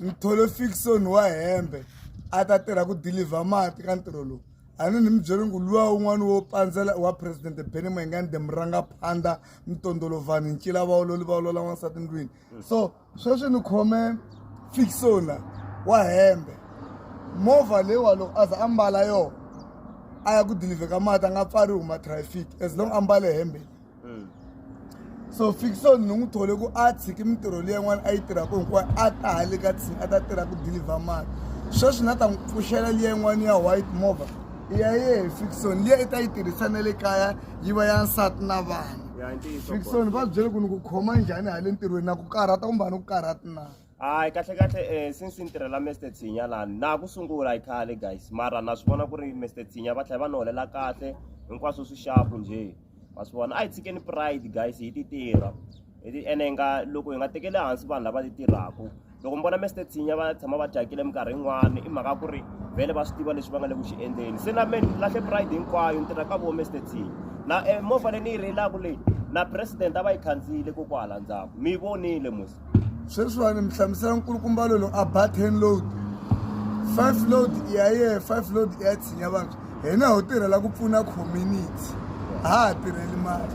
Mthole Fickson wa Hembe a ta tirha ku dilivha mati ka ntirho lowu. A ni ni mi byele ku luwa un'wana wo pandzela wa President Benny Mayengani the Murangaphandha Mtondolo Vanhu Ncila va ololi va olola n'wansati ndlwini. So sweswi ni khome Fickson la wa Hembe movha leyiwa loko a za a mbala yona a ya ku dilivheni ka mati a nga pfariwi hi ma traffic as long a mbale hembe. mm. so fiction ni n'wi thole ku a tshiki mintirho leyi yin'wana a yi tirhaka hinkwayo a ta hale ka tsini a ta tirha ku deliver mali sweswi na ta n'wi pfuxela liya yin'wana ya white mova ya yehe fiction liya i ta yi tirhisa na le kaya yi va ya nsati na vana fiction va byele ku ni ku khoma njhani hale ntirhweni na ku karhata kumbe a ni ku karhati na hayi kahle kahle um since ni tirhela mister tshinya lani na ku sungula hi khale guys mara na swi vona ku ri mister tshinya va tlhela va ni holela kahle hinkwaswo swi xapu njhe wa swi vona a hi tshikeni pride guys hi ti tirha hi ti ene hi nga loko hi nga tekeli hansi vanhu lava ti tirhaka loko mi vona mester tsinya va tshama va dyakile minkarhi yin'wana i mhaka ku ri vele va swi tiva leswi va nga le ku xi endleni se na me ni lahle pride hinkwayo ni tirha ka vo mester tsinya na eh, movha leyi ni yi reyilaka leyi na president a va yi khandziyile kokwala ndzhaku mi yi vonile mos sweswiwani mi hlamusela nkulukumbalo lowu a ba ten load five load i ya yehe five load i ya tshinya vantshwa hina ho tirhela ku pfuna community a ha ha tirheli mali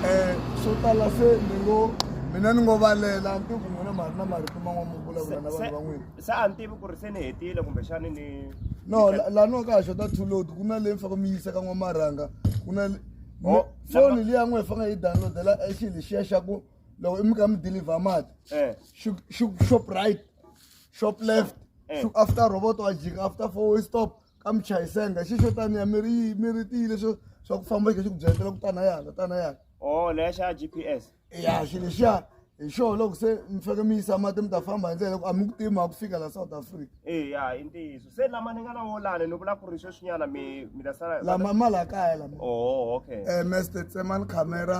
um swo tala se ni ngo mina ni ngo valela ni tiku n'wina ma ri na marito man'wana mo vulavula na vanhu van'wini se a ni tivi ku ri se ni hetile kumbexani ni no laha ni wa ka ha xota two load ku na leyi mi faka mi yisa ka n'wamarhanga ku na foni liya n'we hi fanga yi downloadela xilo xiya xa ku loko i mi ka mi deliver mati eh. shop right shop left eh. after robot wa jika after four way stop ka mi chayisenga xi xo taniya mi ri mi ri tiyile swo swa ku famba xi ku byetela ku tana yana tana yana o oh, leya xa g p s ya xi lexiya hi xo loko se mi faneke mi yisa mati mi ta famba hi ndlela loko a mi ku tima a ku fika la south africa eya i ntiyiso se lama ni nga na wolani ni vula ku ri sweswinyana mi mi ta sala lama ma la kaya lama o oh, okay um eh, mester tsemani camera